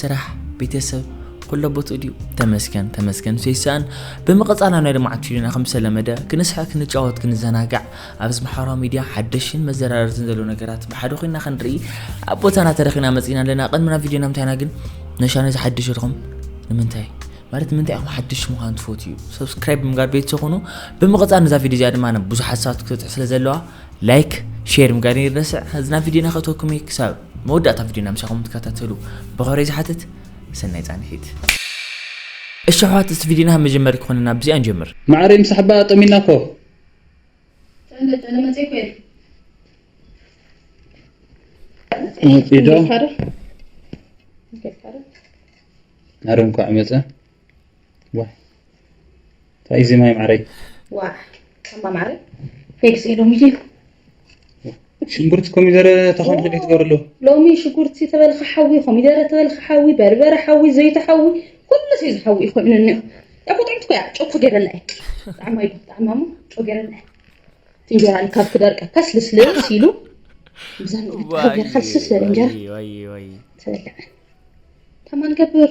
ስራሕ ቤተሰብ ኩሎ ቦትኡ ድዩ ተመስገን ተመስገን ሰይሳን ብምቕጻል ኣብ ናይ ልምዓት ፊልምና ከም ዝተለመደ ክንስሐ ክንጫወት ክንዘናጋዕ ኣብዚ ማሕበራዊ ሚድያ ሓደሽን መዘራረርትን ዘለዉ ነገራት ብሓደ ኮይና ክንርኢ ኣብ ቦታና ተረኺና መጺና ኣለና ቅድሚና ቪድዮና ምንታይና ግን ነሻ ነዚ ሓድሽ ኢልኩም ንምንታይ ማለት ምንታይ ኢኹም ሓድሽ ምዃን ትፈትዩ ሰብስክራይብ ብምጋር ቤት ዝኾኑ ብምቕፃል ነዛ ቪድዮ እዚኣ ድማ ብዙሓት ሰባት ክትበፅሕ ስለ ዘለዋ ላይክ ሼር ምጋር ይረስዕ ህዝና ቪድዮና ከእተኩም ክሳብ መወዳእታ ቪድዮና ምሳኹም ትከታተሉ ብኸብረይ ዝሓትት ሰናይ ፃንሒት። እሺ ኣሕዋት እስቲ ቪድዮና መጀመሪ ክኾነና ብዚኣ ንጀምር። ማዓረይ ምስ ሓባ ጠሚና እኮ። ጠለ ጠለ መፅእ እኮ እየ። መፂእ ዶ? ኣረ እንኳዕ መፀ። ዋይ ታይ እዚ ማይ ማዓረይ። ዋእ እማ ማዓረይ ፌክስ እየ ሎሚ ድዩ። ሽጉርቲ ኮሚደረ ተኾን ሕደይ ትገብርሉ። ሎሚ ሽጉርቲ ተበልካ ሓዊ ኮሚደረ ተበልካ ሓዊ በርበረ ሓዊ ዘይቲ ሓዊ ኩሉ ሰይ ዝሓዊ እዩ ኮይኑ እንዮ ያኮ ጥዕምቲ ኮያ ጨኮ ገረላ እየ ጣዕማ እዩ ጣዕማ እሞ ጨው ገረላ እየ እንጀራ ካብ ክደርቀ ከስ ልስልስ ኢሉ ብዛ ገርካ ልስልስ ዝበለ እንጀራ ተበልዐ ተማን ገብር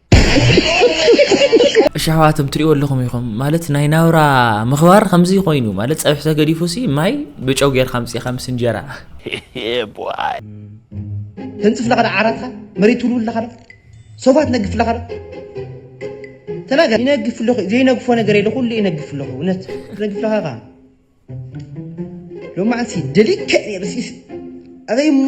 እሺ ኣሕዋቶም ትሪእዎ ኣለኹም ኢኹም ማለት ናይ ናብራ ምኽባር ከምዚ ኮይኑ ማለት ፀብሒ ተገዲፉ ሲ ማይ ብጨው ጌርካ ምፅኢኻ ምስ እንጀራ ተንፅፍ ለኸ ዓራትካ መሬት ትውልውል ለኸ ሶፋ ትነግፍ ለኸ ተናገር ይነግፍ ኣለኹ ዘይነግፎ ነገር የለ ኩሉ ይነግፍ ኣለኹ እውነት ትነግፍ ለኸ ኸ ሎማዓንቲ ደሊከ ነርሲስ ኣበይ እሞ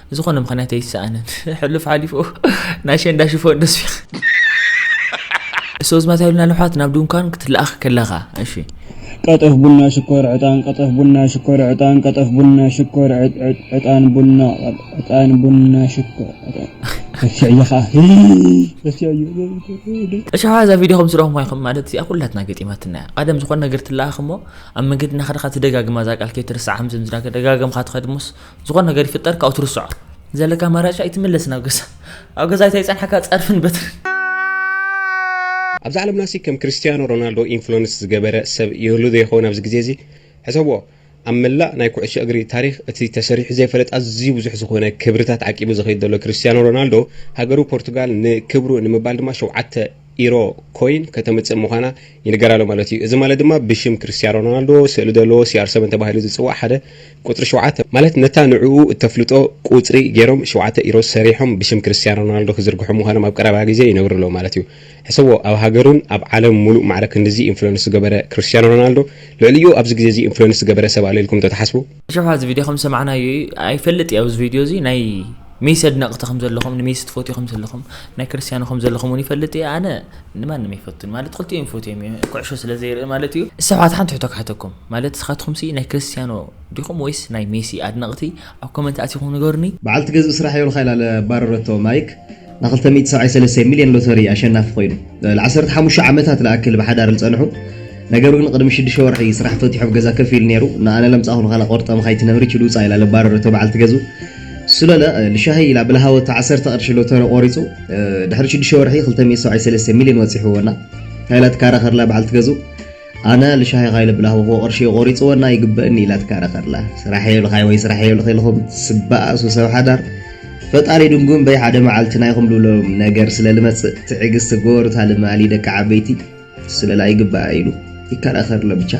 ብዝኾነ ምኽንያት ኣይሰኣንን ሕሉፍ ሓሊፉ ናይ ሸንዳ ሽፎን ደስፊ ሶዝማት ያሉና ልሓት ናብ ድንኳን ክትለኣኽ ከለኻ እሺ ቀጠፍ ቡና ሽኮር ዕጣን ቀጠፍ ቡና ሽኮር ዕጣን ቀጠፍ ቡና ሽኮር ዕጣን ቡና ዕጣን ቡና ሽኮር ረሲዐዮ ከዓ ረሲዐዮ እሻዋ እዛ ቪድዮ ከም ስረኹም ይኹም ማለት እዚኣ ኩላትና ገጢማትና እያ ቀደም ዝኾነ ነገር ትለኣኽ እሞ ኣብ መንገዲ እናኸደኻ ትደጋግማ እዛ ቃል ከይትርስዓ ከም ዝምዝና ደጋገምካ ትኸድሞስ ዝኾነ ነገር ይፍጠር ካብኡ ትርስዖ ዘለካ ኣማራጭ ኣይትምለስ ናብ ገዛ ኣብ ገዛ እንታይ ይጸንሓካ ጸርፍን በትርን ኣብዛ ዓለምና ሲ ከም ክርስትያኖ ሮናልዶ ኢንፍሉንስ ዝገበረ ሰብ ይህሉ ዶ ይኸውን ኣብዚ ግዜ እዚ ሕሰብዎ ኣብ መላእ ናይ ኩዕሶ እግሪ ታሪኽ እቲ ተሰሪሑ ዘይፈለጥ ኣዝዩ ብዙሕ ዝኾነ ክብርታት ዓቂቡ ዝኸይድ ዘሎ ክርስትያኖ ሮናልዶ ሃገሩ ፖርቱጋል ንክብሩ ንምባል ድማ ሸውዓተ ኢሮ ኮይን ከተምጽእ ምዃና ይንገር ኣሎ ማለት እዩ። እዚ ማለት ድማ ብሽም ክርስትያን ሮናልዶ ስእሊ ዘለዎ ሲኣር ሰቨን ተባሂሉ ዝጽዋዕ ሓደ ቁጽሪ ሸውዓተ ማለት ነታ ንዕኡ እተፍልጦ ቁጽሪ ገይሮም ሸውዓተ ኢሮ ሰሪሖም ብሽም ክርስትያን ሮናልዶ ክዝርግሑ ምዃኖም ኣብ ቀረባ ግዜ ይነብሩ ኣለዉ ማለት እዩ። ሕሰቦ ኣብ ሃገሩን ኣብ ዓለም ምሉእ ማዕረ ክንድዚ ኢንፍሉንስ ዝገበረ ክርስትያን ሮናልዶ ልዕሊኡ ኣብዚ ግዜ እዚ ኢንፍሉንስ ዝገበረ ሰብ ኣሎ ኢልኩም ዶ ትሓስቡ? ሽሕ ኣብዚ ቪድዮ ከም ሰማዕናዮ እዩ ኣይፈልጥ እዩ ኣብዚ ቪድዮ እዚ ናይ ሜሲ ኣድነቕቲ ከም ዘለኹም ንሜሲ ትፈትዩ ከም ዘለኹም ናይ ክርስትያኖ ከም ዘለኹም እውን ይፈልጥ እየ ኣነ ንማንም ኣይፈቱን ማለት ክልቲኦም ይፈትዮም እዩ ኩዕሾ ስለ ዘይርኢ ማለት እዩ ሰባት ሓንቲ ሕቶ ክሓተኩም ማለት ንስኻትኩም ሲ ናይ ክርስትያኖ ዲኹም ወይስ ናይ ሜሲ ኣድነቕቲ ኣብ ኮመንት ኣቲኹም ንገሩኒ በዓልቲ ገዝኢ ስራሕ የብልካ ኢላ ባረረቶ ማይክ ንክልተ ሚእቲ ሰብዓይ ሰለስተ ሚልዮን ሎተሪ ኣሸናፊ ኮይኑ። ልዓሰርተ ሓሙሽተ ዓመታት ልኣክል ብሓዳር ልጸንሑ፣ ነገር ግን ቅድሚ ሽዱሽተ ወርሒ ስራሕ ፈቲሑ ኣብ ገዛ ከፍ ኢሉ ነይሩ። ንኣነ ለምጻኹ ንኻላ ቆርጠም ኻይትነብሪ ችድ ውጻእ ኢላ ልባረረቶ በዓልቲ ገዝኡ። ስለለ ልሻሂ ኢላ ብልሃወቶ ዓሰርተ ቅርሺ ሎተሪ ቆሪጹ። ድሕሪ ሽዱሽተ ወርሒ ክልተ ሚእቲ ሰብዓይ ሰለስተ ሚልዮን ወጺሕዎ እና። ሃይላት ካራኸርላ በዓልቲ ገዝኡ። ኣነ ልሻሂ ካይለ ብላህወኹዎ ቅርሺ ቆሪጽወና ይግበእኒ ኢላ ትከራኸርላ ስራሕ የብልኻይ ወይ ስራሕ የብልኺ ኢልኹም ትስበኣሱ ሰብ ሓዳር ፈጣሪ ድንጉም በይ ሓደ መዓልቲ ናይኹም ልብሎም ነገር ስለ ልመጽእ ትዕግስቲ ግበሩ እታ ልማሊ ደቂ ዓበይቲ ስለላ ይግበኣ ኢሉ ይከራኸር ለብቻ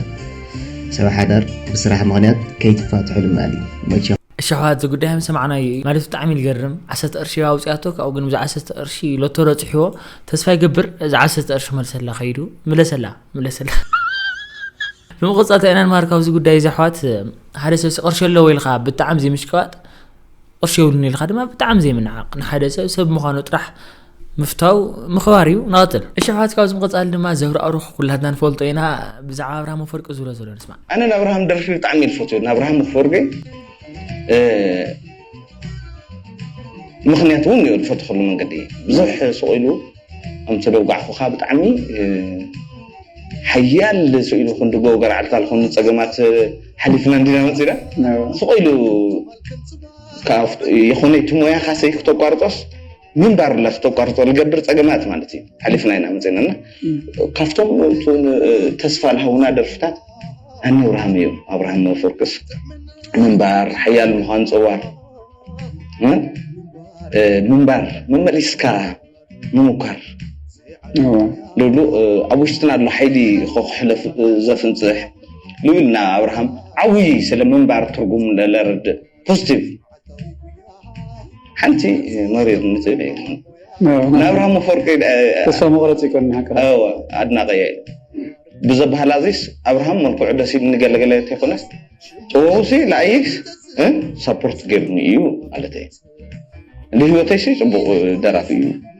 ሰብ ሓዳር ብስራሕ ምኽንያት ከይትፋትሑ ልማሊ መቸ እሺ ኣሕዋት ዝጉዳይ ምስ ሰማዕናዮ እዩ ማለት ብጣዕሚ ዝገርም ዓሰርተ ቅርሺ ኣውፅኣቶ ካብኡ ግን ብዛ ዓሰርተ ቅርሺ ሎቶ ረፅሕዎ ተስፋ ይገብር እዛ ዓሰርተ ቅርሺ መልሰላ ከይዱ ምለሰላ ምለሰላ ብምቕፃል እንታይ ኢና ንመሃር ካብዚ ጉዳይ እዚ ኣሕዋት ሓደ ሰብሲ ቅርሺ ኣለዎ ኢልካ ብጣዕሚ ዘይምሽቅባጥ ቅርሺ የብሉን ኢልካ ድማ ብጣዕሚ ዘይምንዓቕ ንሓደ ሰብ ሰብ ምዃኑ ጥራሕ ምፍታው ምኽባር እዩ ንቐፅል እሽሕዋት ካብዚ ምቐፃሊ ድማ ዘብራኣሩኽ ኩላትና ንፈልጦ ኢና ብዛዕባ ኣብርሃም ኣፈወርቂ ዝብሎ ዘሎ ንስማዕ ኣነ ናብርሃም ደርፊ ብጣዕሚ ዝፈትው ናብርሃም ኣፈወርቂ ምክንያት እውን እዩ ዝፈትኸሉ መንገዲ ብዙሕ ስቑኢሉ ኣምተደጓዕኹኻ ብጣዕሚ ሓያል ስኢሉ ክንዲ ጎ ገርዓልካ ዝኾኑ ፀገማት ሓሊፍና እንዲና መፂና ስቑኢሉ የኾነ እቲ ሞያኻ ሰይ ክተቋርጦስ ምንባር ለኽ ተቋርጾ ልገብር ጸገማት ማለት እዩ ሓሊፍና ኢና መጺእናና ካብቶም ተስፋ ልሃውና ደርፍታት ኣነ ኣብርሃም እዩ ኣብርሃም መፈርቅስ ምንባር ሓያል ምዃን ፀዋር ምንባር መመሊስካ ምሙኳር ልብሉ ኣብ ውሽጥና ኣሎ ሓይሊ ከክሕለፍ ዘፍንፅሕ ልብልና ኣብርሃም ዓብይ ስለ ምንባር ትርጉም ለረድእ ፖዚቲቭ ሓንቲ መሪር ንዝብል የለን ናብ ኣብርሃም ኣፈወርቂ ተስፋ መቁረፂ ይኮን ኣድናቂ እየ ብዘበሃላ እዚስ ኣብርሃም መልክዑ ደስ ኢሉ ንገለገለ ተይኮነስ ጥበቡሲ ንኣይስ ሳፖርት ገይሩኒ እዩ ማለት እየ ንህይወተይሲ ፅቡቅ ደራፊ እዩ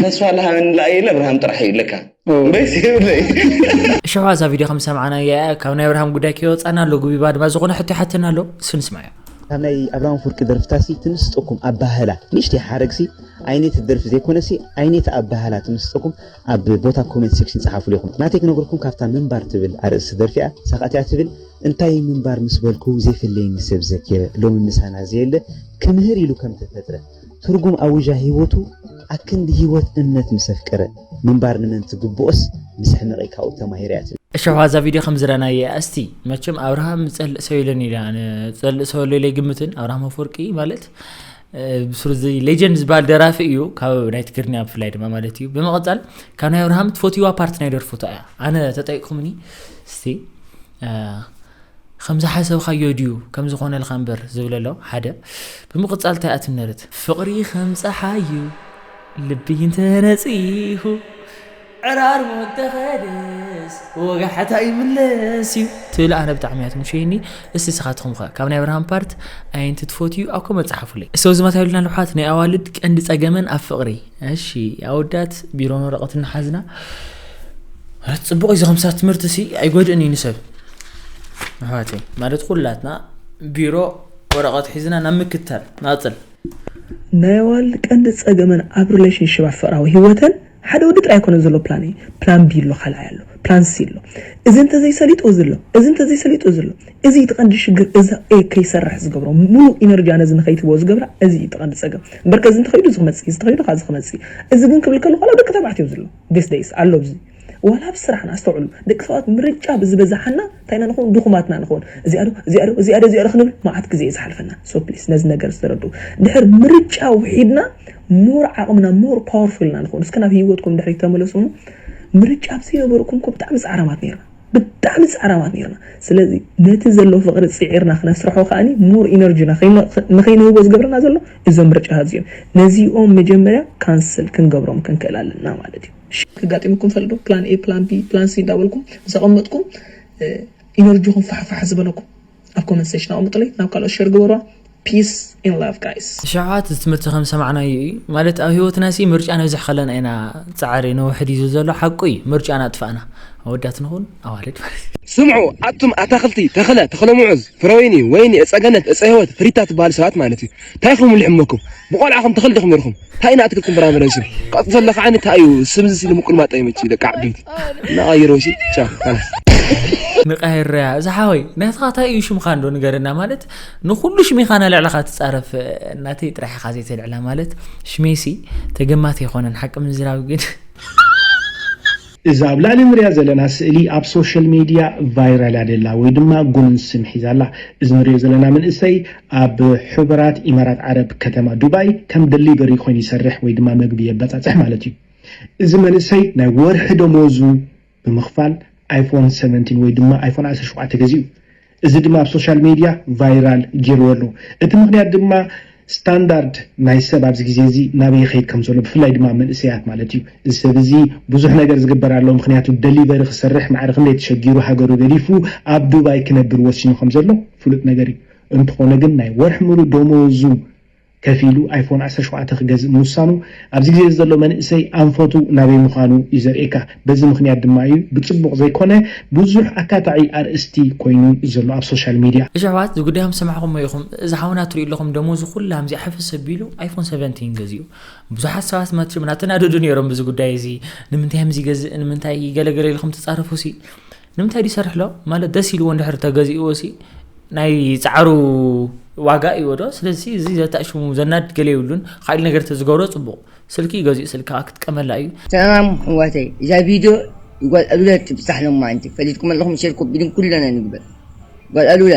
ተስፋ ልሃበኒ ለኣይ ኢለ ኣብርሃም ጥራሕ እዩ ለካ እምበይስ የብለይ እሾኻ እዛ ቪድዮ ከም ሰማዕናያ እያ ካብ ናይ ኣብርሃም ጉዳይ ከይወፃና ኣሎ ጉቢባ ድማ ዝኾነ ሕቶ ይሓተና ኣሎ እስኪ ንስማዮ ካብ ናይ ኣብርሃም ኣፍወርቂ ደርፍታሲ ትምስጠኩም ኣባህላ ንእሽተይ ሓረግሲ ኣይነት ደርፊ ዘይኮነሲ ኣይነት ኣባህላ ትምስጠኩም ኣብ ቦታ ኮሜንት ሴክሽን ጸሓፉሉ ኢኹም ናተይ ክነግርኩም ካብታ ምንባር ትብል ኣርእስቲ ደርፊያ ሳቃትያ ትብል እንታይ ምንባር ምስ በልኩ ዘይፍለየኒ ሰብ ዘኪረ ሎሚ ምሳና ዘየለ ክምህር ኢሉ ከም ተፈጥረ ትርጉም ኣዊዣ ህይወቱ ኣክንዲ ህይወት እምነት ምስ ኣፍቀረ ምንባር ንመን ትግብኦስ ምስ ሕመቂ ካብኡ ተማሂረ እያ ትብል። እሺ ኣዛ ቪድዮ ከም ዝረናየ እያ እስቲ መቸም ኣብርሃም ዝጸልእ ሰው የለን ኢላ ዝጸልእ ሰው ኣሎ ኢለ ግምትን ኣብርሃም ኣፈወርቂ ማለት ብሱር እዚ ሌጀንድ ዝበሃል ደራፊ እዩ ካብ ናይ ትግርኛ ብፍላይ ድማ ማለት እዩ ብምቕጻል ካብ ናይ ኣብርሃም ትፈትዋ ፓርቲ ናይ ደርፉታ እያ ኣነ ተጠይቅኩምኒ እስቲ ከም ዝሓሰብካዮ ድዩ ከም ዝኾነልካ እምበር ዝብለ ኣሎ ሓደ ብምቕጻል እንታይ እያ ትምነርት። ፍቕሪ ከም ጸሓይ'ዩ ልቢ እንተ ነጺሁ ዕራርሙ እንተ ኸደስ ወጋሕታ ይምለስ'ዩ ትብል ኣነ ብጣዕሚ እያ ትምቸየኒ እስቲ ስኻትኹም'ኸ ካብ ናይ ኣብርሃም ፓርት ኣየንቲ ትፈትዩ ኣብ ኮመንት ጸሓፉለይ እስቲ ኣብዚ መታ ይብልና ልሓት ናይ ኣዋልድ ቀንዲ ጸገመን ኣብ ፍቕሪ እሺ ኣወዳት ቢሮን ወረቐትን ንሓዝና ጽቡቕ እዩ ከምሳ ትምህርትሲ ኣይጎድእን እዩ ንሰብ ኣሕዋተይ ማለት ኩላትና ቢሮ ወረቐት ሒዝና ናብ ምክታል ናፅል ናይ ኣዋል ቀንዲ ጸገመን ኣብ ሪሌሽንሽፕ ኣብ ፍቕራዊ ህይወተን ሓደ ወዲ ጥራይ ኣይኮነን ዘሎ ፕላን እዩ ፕላን ቢ ኣሎ ካልኣይ ኣሎ ፕላን ሲ ኣሎ እዚ እንተዘይሰሊጡ እዚ ኣሎ እዚ እንተዘይሰሊጡ እዚ ኣሎ እዚ እዩ ትቐንዲ ሽግር እዛ ኤ ከይሰርሕ ዝገብሮ ሙሉእ ኢነርጂያ ነዚ ንኸይትቦ ዝገብራ እዚ እዩ ትቐንዲ ጸገም እምበር ከዚ እንተኸይዱ እዚ ክመጽእ እዚ ተኸይዱ ካዚ ክመጽእ እዚ ግን ክብል ከለኹ ደቂ ተባዕትዮ ዘሎ ዴስ ደይስ ኣሎ እዚ ዋላ ኣብ ስራሕና ኣስተውዕሉ ደቂ ሰባት ምርጫ ብዝበዛሓና እንታይ ኢና ንኸውን ድኹማት ኢና ንኸውን እዚኣ ዶ እዚኣ ዶ እዚኣ ዶ እዚኣ ዶ ክንብል ማዓት ግዜ እዩ ዝሓልፈና so please ነዚ ነገር ዝተረድኡ ድሕር ምርጫ ውሒድና more ዓቕምና more powerful ኢና ንኸውን እስከ ናብ ሂወትኩም ድሕሪት ተመለሱ እሞ ምርጫ ኣብ ዘይነበርኩም እኮ ብጣዕሚ ጻዕራማት ኔርና ብጣዕሚ ጻዕራማት ኔርና ስለዚ ነቲ ዘሎ ፍቕሪ ጺዒርና ክነስርሖ ከኣኒ more energy ና ንኸይንህቦ ዝገብረና ዘሎ እዞም ምርጫታት እዚኦም ነዚኦም መጀመርያ cancel ክንገብሮም ክንክእል ኣለና ማለት እዩ ሽግ ኣጋጢሙኩም ይፈልጥ ዶ ፕላን ኤ ፕላን ቢ ፕላን ሲ እንዳበልኩም ምስ ኣቀመጥኩም ኢነርጂኩም ፋሕ ፋሕ ዝበለኩም ኣብ ኮመንት ሴሽን ኣቀምጡለይ ናብ ካልኦት ሸር ግበርዋ ፒስ ኢን ላቭ ጋይስ። ንሸውዓት እዚ ትምህርቲ ከም ሰማዕናዮ እዩ ማለት ኣብ ህይወትና ሲ ምርጫ ነብዝሕ ከለና ኢና ጻዕሪ ነውሕድ እዩ ዝብል ዘሎ ሓቁ እዩ ምርጫ እናጥፋእና ኣወዳት ንኹን ኣዋልድ ማለት እዩ። ስምዑ ኣቱም ኣታኽልቲ ተኽለ ተኽለሙዑዝ ፍረወይኒ ወይኒ እፀገነት እፀህይወት ሪታ ትበሃሉ ሰባት ማለት እዩ ታይ ኢኹም ልሕመኩም ብቆልዓኹም ተኽሊ ዲኹም ነይርኹም እንታይ ኢና ኣትክልትን ፍራምረን ሲ ካብኡ ዘለካ ዓይኒ እንታይ እዩ ስምዚ ሲ ንምቁልማጥ ኣይመች ደቂ ዓበይቲ እናቐይሮ ሲ ቻ ካላስ ንቀይረያ እዚ ሓወይ ናትኻ እንታይ እዩ ሽምካ እንዶ ንገረና ማለት ንኩሉ ሽሜኻ ናልዕልኻ ትፃረፍ እናተይ ጥራሕ ኢኻ ዘይተልዕላ ማለት ሽሜሲ ተገማት ኣይኮነን ሓቂ ምዝራብ ግን እዛ ኣብ ላእሊ ንሪኣ ዘለና ስእሊ ኣብ ሶሸል ሜድያ ቫይራል እያ ደላ ወይ ድማ ጉኑን ስም ሒዛ ኣላ። እዚ ንሪኦ ዘለና መንእሰይ ኣብ ሑበራት ኢማራት ዓረብ ከተማ ዱባይ ከም ደሊቨሪ ኮይኑ ይሰርሕ ወይ ድማ መግቢ የበጻጽሕ ማለት እዩ። እዚ መንእሰይ ናይ ወርሒ ደሞዙ ብምኽፋል ኣይፎን ሰቨንቲን ወይ ድማ ኣይፎን ዓሰርተ ሸውዓተ ገዚኡ። እዚ ድማ ኣብ ሶሻል ሜድያ ቫይራል ገይርዎ ኣሎ። እቲ ምኽንያት ድማ ስታንዳርድ ናይ ሰብ ኣብዚ ግዜ እዚ ናበይ ይኸይድ ከም ዘሎ ብፍላይ ድማ መንእሰያት ማለት እዩ። እዚ ሰብ እዚ ብዙሕ ነገር ዝግበር ኣሎ ምኽንያቱ ደሊቨሪ ክሰርሕ ማዕረ ክንደይ ተሸጊሩ ሃገሩ ገዲፉ ኣብ ዱባይ ክነብር ወሲኑ ከም ዘሎ ፍሉጥ ነገር እዩ። እንተኾነ ግን ናይ ወርሒ ምሉእ ደሞዙ ከፊሉ ኣይፎን ዓሰርተ ሸውዓተ ክገዝእ ምውሳኑ ኣብዚ ግዜ እዚ ዘሎ መንእሰይ ኣንፈቱ ናበይ ምዃኑ እዩ ዘርእየካ። በዚ ምኽንያት ድማ እዩ ብጽቡቕ ዘይኮነ ብዙሕ ኣካታዒ ኣርእስቲ ኮይኑ ዘሎ ኣብ ሶሻል ሚድያ። እሺ ኣሕዋት እዚ ጉዳይ ከም ዝሰማዕኩሞ ኢኹም እዚ ሓውና ትሪኡ ኣለኹም ደሞዙ ኩላ ኣምዚኣ ሕፍስ ኣቢሉ ኣይፎን ሰቨንቲን ገዚኡ ብዙሓት ሰባት መቸም ናተናደዱ ነይሮም በዚ ጉዳይ እዚ ንምንታይ ከምዚ ይገዝእ ንምንታይ ገለ ገለ ኢልኩም ትጻረፉሲ ንምንታይ ድዩ ይሰርሕ ኣሎ ማለት ደስ ኢልዎ እንድሕር ተገዚእዎሲ ናይ ጻዕሩ ዋጋ እዩ ዶ ስለዚ እዚ ዘታሽሙ ዘናድ ገለ ይብሉን ካልእ ነገር ተዝገብሮ ጽቡቕ ስልኪ ገዚኡ ስልካ ክትቀመላ እዩ ሰላም ኣሕዋተይ እዛ ቪድዮ ንጓል ኣሉላ ትብጻሕ ሎማዓንቲ ፈሊጥኩም ኣለኹም ሼር ኮፒ ሊንክ ኩልና ንግበር ጓል ኣሉላ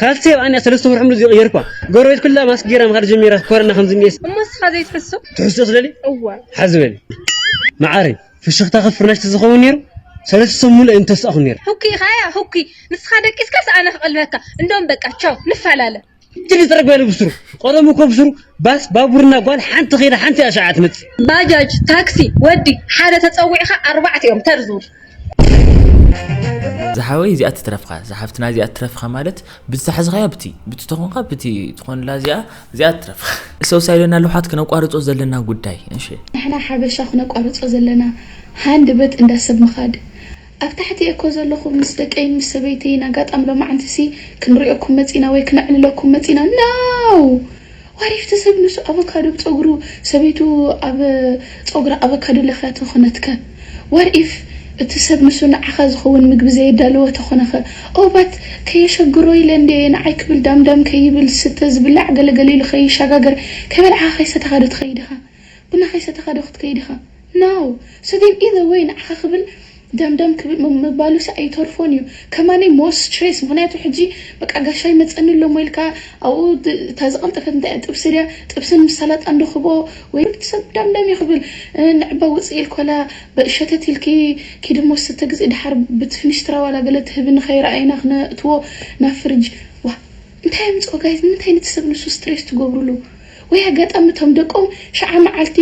ካልሲ ኣባኣኒኣ ሰለስተ ወርሒ ሙሉእ ዘይቀየርኳ ጎረቤት ኩላ ማስክ ጌራ ምኻድ ጀሚራ ኮረና ከም ዝኒኤስ እሞ ንስኻ ዘይትሕሱ ትሕስቶ ትደልዪ እወ ሓዚ በሊ ማዓረይ ፍሽኽታ ከብ ፍርናሽ ተዝኸውን ኔሩ ሰለስተ ሰሙን ሙሉእ ኣይምተሳእኹን ኔረ። ህኩይ ኢኻ ያእ ህኩይ ንስኻ ደቂስካስ ኣነ ክቐልበካ እንዶም በቃ ቻው ንፋላለ። ትዲ ተረግበሉ ብስሩ ቀደሙ እኮ ብስሩ ባስ ባቡርና ጓል ሓንቲ ከይዳ ሓንቲ ኣሻዓ ትመጽእ። ባጃጅ ታክሲ ወዲ ሓደ ተጸዊዕኻ ኣርባዕቲኦም ተር ዝብሉ። ዝሓወይ እዚኣ ትትረፍካ እዛ ሓፍትና እዚኣ ትረፍካ ማለት ብዝተሓዝኻያ ብቲ ብቲ ተኾንካ ብቲ ትኾንላ እዚኣ እዚኣ ትረፍካ ሰውሳ ኢለና ኣለውሓት ክነቋርጾ ዘለና ጉዳይ እሺ ንሕና ሓበሻ ክነቋርጾ ዘለና ሃንድ በት እንዳ ሰብ ምኻድ ኣብ ታሕቲ እየ እኮ ዘለኹ ምስ ደቀይን ምስ ሰበይተይን ኣጋጣሚ ሎማዓንቲ ሲ ክንሪኦኩም መጺና ወይ ክነዕልለኩም መጺና ኖው ዋሪፍቲ ሰብ ንሱ ኣቮካዶ ብጸጉሩ ሰበይቱ ኣብ ጸጉራ ኣቮካዶ ለኽያ ተኾነትከ ዋር ኢፍ እቲ ሰብ ንሱ ንዓኻ ዝኸውን ምግቢ ዘየዳለወ ተኾነኸ ኦው ባት ከየሸግሮ ኢለ እንድየ ንዓይ ክብል ዳምዳም ከይብል ዝስተ ዝብላዕ ገለገለ ኢሉ ከይሻጋገር ከይበልዓኻ ከይሰተኻዶ ትኸይድ ኢኻ ቡና ከይሰተኻ ዶ ክትከይድ ኢኻ? Now! So then either way ንዓኻ ክብል ደምደም ክብል ምባሉሲ ኣይተርፎን እዩ። ከማነይ more stress ምኽንያቱ ሕጂ በቃ ጋሻ ይመጸኒ ኣሎሞ ኢልካ ኣብኡ እታ ዝቐልጠፈት እንታይ እያ ጥብሲ ድያ ጥብስን ምስ ሰላጣን ዶ ክብኦ ወይ እቲ ሰብ ደምደም እዩ ክብል ንዕባ ውጽኢ ኢልኮላ ሸተት ኢልኪ ኪዲ እሞ ስተ ግዝኢ ደሓር ብትፍንሽትራ ዋላ ገለ ትህብኒ ከይረኣይና ክነእትዎ ናብ ፍርጅ ዋእ እንታይ ኣምጽኦ ጋይስ ንምንታይ ነቲ ሰብ ንሱ ስትሬስ ትገብሩሉ ወይ ኣጋጣሚ እቶም ደቆም ሽዓ መዓልቲ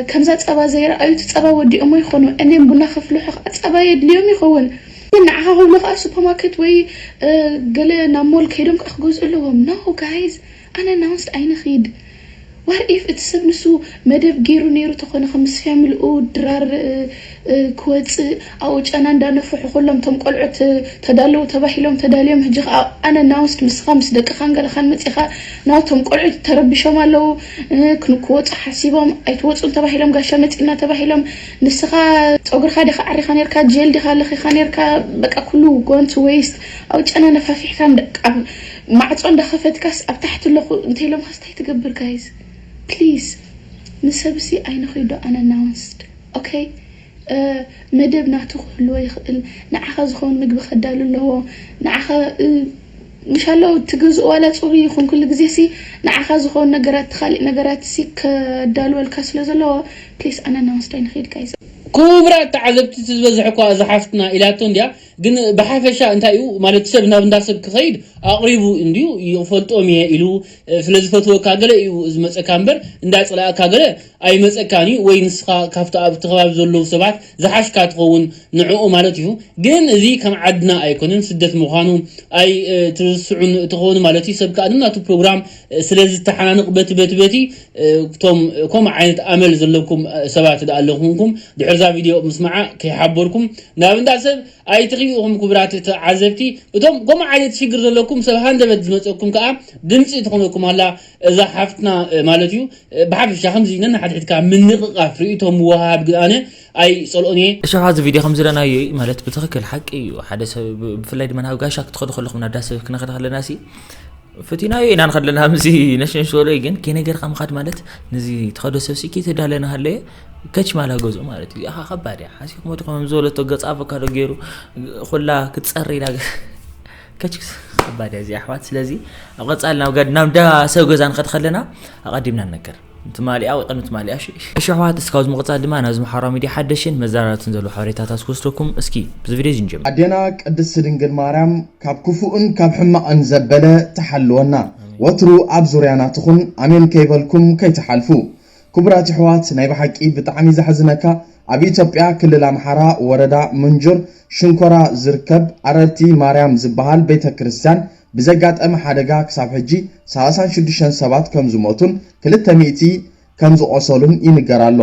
ከምዛ ጸባ ዘይረኣዩ እቲ ጸባ ወዲኦሞ ይኾኑ እኔም ቡና ከፍልሑ ከኣ ጸባ የድልዮም ይኸውን ንዓኻ ክብሉ ከኣ ሱፐማከት ወይ ገለ ናብ ሞል ከይዶም ከኣ ክገዝኡ ኣለዎም ኖ ጋይስ ኣነናውንስድ ኣይንኺድ ዋር ኢፍ እቲ ሰብ ንሱ መደብ ጌሩ ኔሩ ተኮነ ክምስ ፊያምልኡ ድራር ክወጽእ ኣብኡ ጨና እንዳ ነፈሑ ኩሎም እቶም ቆልዑት ተዳለዉ ተባሂሎም ተዳልዮም ህጂ ከኣ ኣነ ናውስድ ምስካ ምስ ደቅካን ገለካን መጺካ ናው እቶም ቆልዑት ተረቢሾም ኣለዉ ክን ክወጹ ሓሲቦም ኣይትወጹን ተባሂሎም ጋሻ መጺና ተባሂሎም ንስካ ጸጉርካ ዲካ ኣዕሪካ ኔርካ ጀል ዲካ ለኪካ ኔርካ በቃ ኩሉ ጎንት ወይስት ኣብኡ ጨና ነፋፊሕካ እንዳ ኣብ ማዕጾ እንዳከፈትካስ ኣብ ታሕቲ ኣለኩ እንተኢሎምካስ ታይ ትገብር ጋይዝ please ንሰብሲ ኣይንኺዶ unannounced ok መደብ ናቱ ክህልዎ ይኽእል ንዓኻ ዝኸውን ምግቢ ከዳሉ ኣለዎ ንዓኻ ምሻሎ ትገዝኡ ዋላ ጽሩይ ይኹን ኩሉ ግዜሲ ንዓኻ ዝኸውን ነገራት ካሊእ ነገራትሲ ከዳልወልካ ስለ ዘለዎ please unannounced ኣይንኺድ ጋይዝ። ኩቡራት ተዓዘብቲ እቲ ዝበዝሐ እኳ እዛ ሓፍትና ኢላቶ እንድያ ግን ብሓፈሻ እንታይ እዩ ማለት ሰብ ናብ እንዳ ሰብ ክኸይድ ኣቕሪቡ እንድዩ ይፈልጦም እየ ኢሉ ስለ ዝፈትወካ ገለ እዩ ዝመጸካ እምበር እንዳ ጸላኣካ ገለ ኣይመጸካን እዩ ወይ ንስኻ ካብቲ ኣብቲ ከባቢ ዘለዉ ሰባት ዝሓሽካ ትኸውን ንዕኡ ማለት እዩ ግን እዚ ከም ዓድና ኣይኮነን ስደት ምዃኑ ኣይትርስዑን ትኾኑ ማለት እዩ ሰብ ከኣ ነናቱ ፕሮግራም ስለ ዝተሓናንቕ በቲ በቲ በቲ እቶም ከምኡ ዓይነት ኣመል ዘለኩም ሰባት ደኣ ኣለኹምኩም ድሕሪ እዛ ቪድዮ ምስማዓ ከይሓበርኩም ናብ እንዳ ሰብ ኣይትኺዱ ኢኹም ክቡራት ተዓዘብቲ እቶም ከምኡ ዓይነት ሽግር ዘለኩም ሰብ ሃንደበት ዝመጸኩም ከኣ ድምጺ ትኾነኩም ኣላ እዛ ሓፍትና ማለት እዩ ብሓፈሻ ከምዚ ነንሓድሕድካ ምንቕቓፍ ርእይቶ ምውህሃብ ግን ኣነ ኣይጸልኦን እየ እሺ ኣብዚ ቪድዮ ከም ዝረናዮ ማለት ብትክክል ሓቂ እዩ ሓደ ሰብ ብፍላይ ድማ ናብ ጋሻ ክትኸዱ ከለኹም ናብ ዳሰብ ክንኸድ ከለና ሲ ፈቲናዮ ኢና ንኸድ ለና ምዚ ነሽነሽ ዝበሎ እዩ ግን ከይነገርካ ምኻድ ማለት ነዚ ተኸዶ ሰብሲ ከይተዳለ ናሃለየ ከች ማላ ገዝኡ ማለት እዩ እዚኣ ከባድ እያ ሓሲ ክመት ከም ዝበለቶ ገፅ ኣቮካዶ ገይሩ ኩላ ክትፀሪ ኢላ ከች ከባድ እያ እዚ ኣሕዋት ስለዚ ኣብ ቀፃሊ ናብ ናብ እንዳ ሰብ ገዛ ንኸድ ከለና ኣቐዲምና ንነገር ትማሊኣ ወይ ቅድሚ ትማሊኣ እሺ። እሺ ኣሕዋት እስኪ ካብዚ ምቅጻል ድማ ናብዚ ማሕበራዊ ሚድያ ሓደሽቲን መዘራረብትን ዘለዉ ሓበሬታታት ክወስደኩም እስኪ ብዚ ቪድዮ እዚ ንጀምር። ኣዴና ቅድስቲ ድንግል ማርያም ካብ ክፉእን ካብ ሕማቅን ዘበለ ትሓልወና ወትሩ ኣብ ዙርያና ትኹን ኣሜን ከይበልኩም ከይትሓልፉ ክቡራት የሕዋት ናይ ብሓቂ ብጣዕሚ ዘሕዝነካ ኣብ ኢትዮጵያ ክልል ኣምሓራ ወረዳ ምንጁር ሽንኮራ ዝርከብ ኣረርቲ ማርያም ዝበሃል ቤተክርስትያን ብዘጋጠመ ሓደጋ ክሳብ ሕጂ ሰላሳን ሽዱሽተን ሰባት ከምዝሞቱን ክልተ ሚእቲ ከምዝቖሰሉን ይንገር ኣሎ።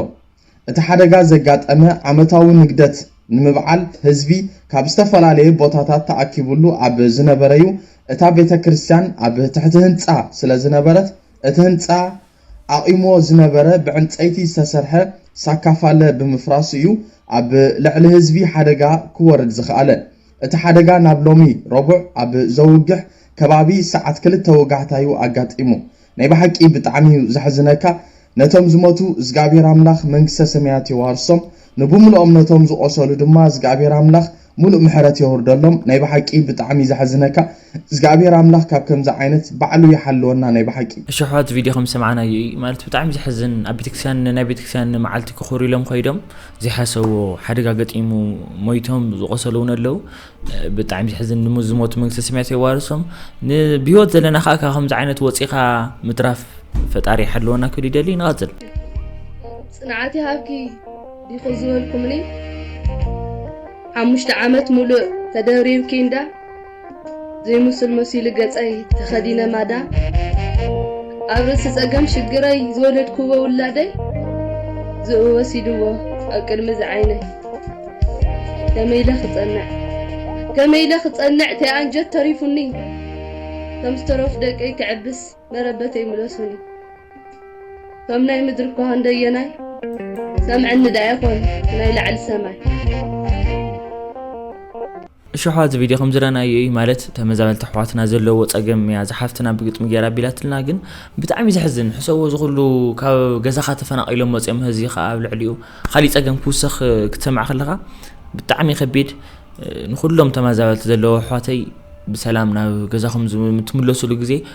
እቲ ሓደጋ ዘጋጠመ ዓመታዊ ንግደት ንምብዓል ህዝቢ ካብ ዝተፈላለየ ቦታታት ተኣኪቡሉ ኣብ ዝነበረ'ዩ፣ እታ ቤተክርስትያን ኣብ ትሕቲ ህንጻ ስለዝነበረት እቲ ህንጻ ኣቚምዎ ዝነበረ ብዕንጸይቲ ዝተሰርሐ ሳካፋለ ብምፍራሱ'ዩ ኣብ ልዕሊ ህዝቢ ሓደጋ ክወርድ ዝኸኣለ። እቲ ሓደጋ ናብ ሎሚ ረቡዕ ኣብ ዘውግሕ ከባቢ ሰዓት ክልተ ወጋሕታ'ዩ ኣጋጢሙ። ናይ ብሓቂ ብጣዕሚ'ዩ ዘሕዝነካ ነቶም ዝሞቱ እዝግኣብሄር ኣምላኽ መንግስተ ሰማያት የዋርሶም ንብሙሉኦም ነቶም ዝቆሰሉ ድማ እዝግኣብሄር ኣምላኽ ሙሉእ ምሕረት የውርደሎም ናይ ብሓቂ ብጣዕሚ ዘሕዝነካ እዝግኣብሄር ኣምላኽ ካብ ከምዚ ዓይነት ባዕሉ ይሓልወና ናይ ብሓቂ። እሺ ኣሕዋት ቪድዮ ከም ዝሰማዕናዮ እዩ ማለት ብጣዕሚ ዘሕዝን ኣብ ቤተክርስትያን ናይ ቤተክርስትያን መዓልቲ ክኹሩ ኢሎም ከይዶም ዘይሓሰብዎ ሓደጋ ገጢሙ ሞይቶም ዝቆሰሉ እውን ኣለው ብጣዕሚ ዘሕዝን ንሙ ዝሞቱ መንግስተ ሰማያት የዋርሶም ብሂወት ዘለና ከዓ ካብ ከምዚ ዓይነት ወፂኻ ምትራፍ ፈጣሪ ይሓልወና ክብል ይደሊ ንቐፅል ፅንዓት ይሃብኪ ዲኹ ዝበልኩምኒ ሓሙሽተ ዓመት ሙሉእ ተደብሪብኪ እንዳ ዘይምሱል መሲሉ ገጸይ ተኸዲነ ማዳ ኣብ ርእሲ ጸገም ሽግረይ ዝወለድክዎ ውላደይ ዝእኡ ወሲድዎ ኣብ ቅድሚ ዝዓይነይ ከመይ ኢለ ክጸንዕ ከመይ ኢለ ክጸንዕ ተይ ኣንጀት ተሪፉኒ ከም ዝተረፉ ደቀይ ክዕብስ መረበተይ ምለሱኒ ከም ናይ ምድሪ እኳ ክንደየናይ ሰምዕኒ ደኣ ይኾን ናይ ላዕሊ ሰማይ እሽሕዋ እዚ ቪድዮ ከምዝረናዮ እዩ ማለት ተመዛበልቲ ኣሕዋትና ዘለዎ ጸገም እያ ዝሓፍትና ብግጥሚ ገይራ ኣቢላትልና ግን ብጣዕሚ ዘሕዝን ሕሰቦ ዝኩሉ ካብ ገዛኻ ተፈናቂሎም መጽዮም ህዚ ከኣ ኣብ ልዕሊኡ ካሊእ ጸገም ክውሰኽ ክትሰምዕ ከለኻ ብጣዕሚ ከቢድ ንኩሎም ተመዛበልቲ ዘለዎ ኣሕዋተይ ብሰላም ናብ ገዛኹም ትምለሱሉ ግዜ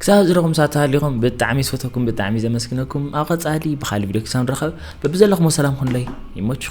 ክሳብ ዝረኹም ሳት ሃሊኹም ብጣዕሚ ዝፈተኩም ብጣዕሚ ዘመስግነኩም ኣብ ቀጻሊ ብኻሊ ቪድዮ ክሳብ ንራኸብ በብዘለኹሞ ሰላም ኩኑለይ ይመችኹም